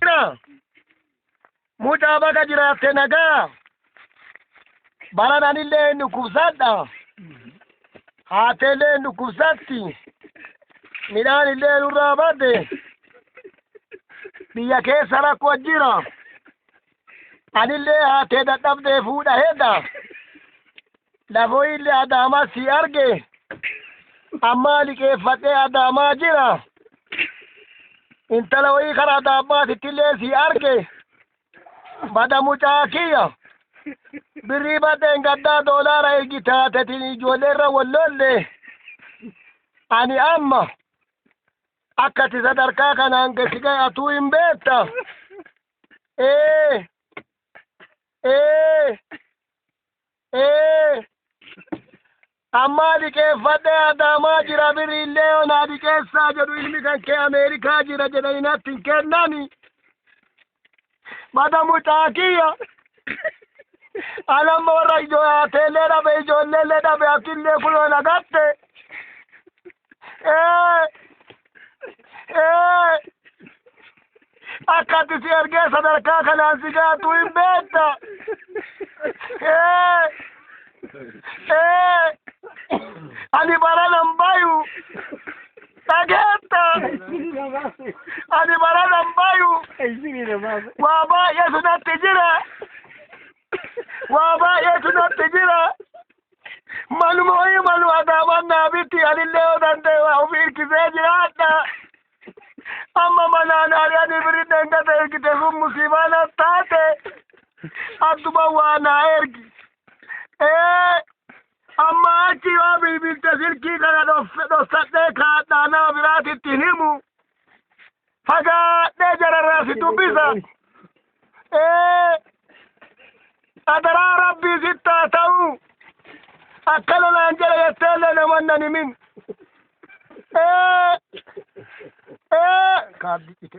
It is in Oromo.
jira. Mucaa baga jiraatte nagaa. Baran anillee hin dhukkubsadha. Haatteellee hin dhukkubsatti. Midhaan illee nurraa badde. Biyya keessa rakkoo jira. Anillee haattee dadhabdee fuudha hedda. Lafoo illee Adaamaa si arge. Ammaa liqeeffadhee Adaamaa jira. Intala wayii kara Adaabbaatitti illee si arge. Bada mucaa kiyya. Birrii badheen gaddaa doolaara ergi taatetiin ijoollee irra wallolle. Ani amma akka ati sadarkaa kanaan gasi ga'e atuu hin beekta. Ee. Ee. Ee, ammaa dhiqeeffadhee adaamaa jira biriillee yoo naa dhiqeessaa jedhu ilmi kan kee Ameerikaa jira jedhanii natti hin kennani. Bada mucaa kiyya. Alamma warra ijoo haateellee dhabe ijoolleellee dhabe atillee kunoo na gatte. Ee! Ee! Akkatti si ergee sadarkaa kanaan si gaatu hin beekta. Ee! Ee! Ani baranan bayu. Dhageetta. Ani baranan bayu. Waa baay'eetu natti jira. Waa baay'eetu natti jira. Maluma wayii malu adaamaan naa bitti anillee yoo danda'e waa ofii hirkisee jiraadha. Amma manaan ari'anii birinna hin gata ergite sun musiibaa na taate. Attuma waa naa ergi. Ee amma achi yoo bilbilte silkii kana dhofsadhee kaadhaa nama biraatitti himu. Fagaadhee jararraa si dubbisa. Ee, adaraa rabbii sitti haa ta'u. Akkana naan jedhe jettee illee namoonni nan himin. Ee, ee, kaabdi cite.